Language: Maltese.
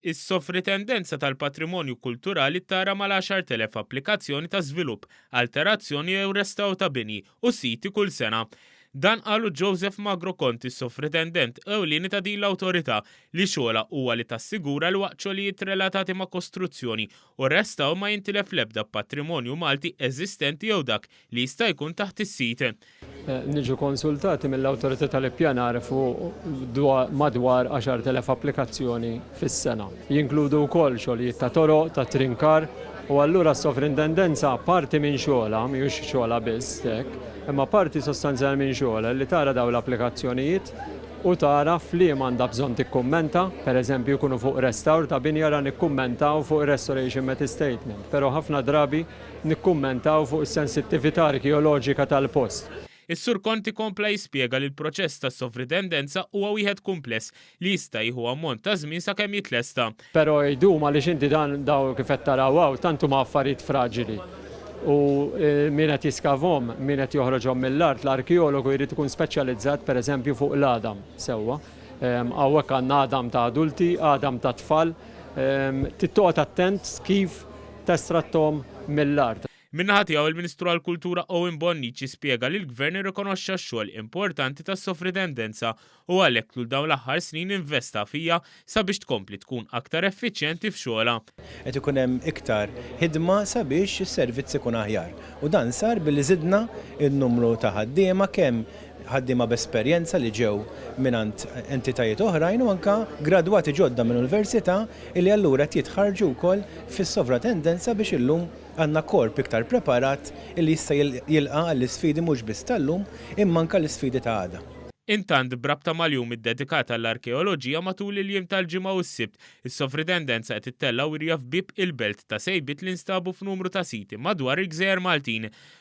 Is-Sovrintendenza tal-Patrimonju Kulturali ttara mal-10,000 applikazzjoni ta' żvilupp, alterazzjoni jew restawr ta' bini u siti kull sena. Dan qalu Joseph Magro Conti, Sovritendent Ewlieni ta' din l-Awtorità, li xogħolha huwa li tassigura li waqt xogħlijiet relatati ma' kostruzzjoni u restawr ma jintilef l-ebda patrimonju Malti eżistenti jew dak li jista' jkun taħt is-sit. Niġu konsultati mill-Awtorità tal-Ippjanar fuq madwar 10,000 applikazzjoni fis-sena. Jinkludu wkoll xogħlijiet ta' toroq, ta' trinkar, u allura s-Sovrintendenza parti minn xogħolha, mhijiex xogħolha biss hekk, imma parti sostanzjali minn xogħolha li tara dawn l-applikazzjonijiet u tara f'liema għandha bżonn tikkummenta, pereżempju jkunu fuq restawr ta' binja ra nikkummentaw fuq ir-restoration method statement, però ħafna drabi, nikkummentaw fuq is-sensittività arkeoloġika tal-post. Is-Sur Conti kompla jispjega li l-proċess ta' sovridendenza huwa wieħed kumpless li jista' jieħu ammont ta' żmien sakemm jitlesta. Però jdum għaliex inti dan dawn kif qed taraw hawn tant huma affarijiet fraġili u min qed jiskavhom, min qed joħroġhom mill-art, l-arkeologu jrid ikun speċjalizzat pereżempju fuq l-għadam sewwa. Hawnhekk għandna għadam ta' adulti, għadam ta' tfal. Trid toqgħod attent kif testratthom mill-art. Min-naħa tiegħu, il-Ministru għall-Kultura Owen Bonnici spjega li l-Gvern irrikonoxxa x-xogħol importanti tas-Sofritendenza u għalhekk tul dawn l-aħħar snin investa fija sabiex tkompli tkun aktar effiċjenti f'xogħolha. Qed ikun hemm iktar ħidma sabiex is-servizz ikun aħjar u dan sar billi żidna n-numru ta' ħaddiema kemm ħaddiema b'esperjenza li ġew mingħand entitajiet oħrajn u anke gradwati ġodda minn università li allura qed jitħarrġu wkoll fis-sovratendenza biex illum għandna korp iktar preparat li jista' jilqa' għall-isfidi mhux biss tal-lum imma anke l-isfidi ta' għada. Intant, b'rabta mal-jum iddedikat għall-arkeoloġija matul il-jiem tal-Ġimgħa u s-Sibt, is-sovridendenza qed ittella' wirja f'bieb il-belt ta' sejbiet li nstabu f'numru ta' siti madwar il-gżejjer Maltin.